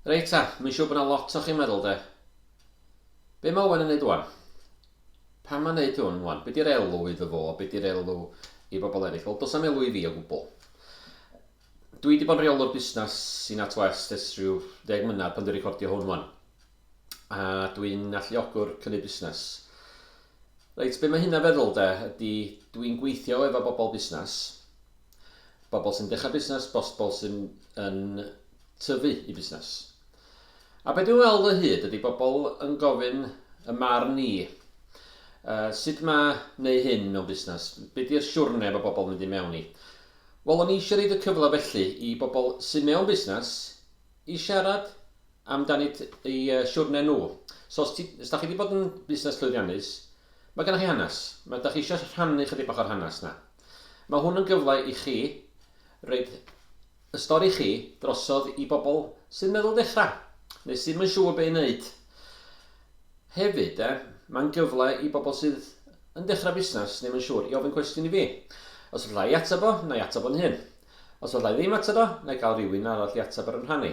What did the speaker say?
Reit ta, mae'n siŵr bod yna lot o chi'n meddwl de. Be mae Owen yn neud wan? Pam mae'n neud hwn wan? Be di'r elw iddo fo? Be di'r elw i bobl eraill? Wel, does am elw i fi o gwbl. Dwi wedi bod yn rheolwr busnes i NatWest ers rhyw ddeg mlynedd pan dwi'n recordio hwn wan. a dwi'n alluogwr cynnig busnes. Reit, be mae hynna feddwl de, ydy dwi'n gweithio efo bobl busnes, bobl sy'n dechrau busnes, bobl sy'n yn tyfu i busnes. A beth dwi'n weld o hyd ydy bobl yn gofyn y marn ni, uh, sut mae neu hyn mewn busnes, beth yw'r siwrne mae bobl mynd i mewn i. Wel, o'n i eisiau rhaid y cyfle felly i bobl sy'n mewn busnes i siarad amdanynt eu siwrne nhw. So os ti, os da chi wedi bod yn busnes llwyddiannus, mae gennych chi hanes. Mae, da chi eisiau rhannu chydig bach o'r hanes na. Mae hwn yn gyfle i chi roed y stori chi drosodd i bobl sy'n meddwl dechrau, neu sydd yn siŵr be i wneud. Hefyd, e, mae'n gyfle i bobl sydd yn dechrau busnes neu yn siŵr i ofyn cwestiwn i fi. Os allai i ateb o, na i ateb o'n hun. Os allai ddim ateb o, na i gael rhywun arall i ateb ar yn rhan i.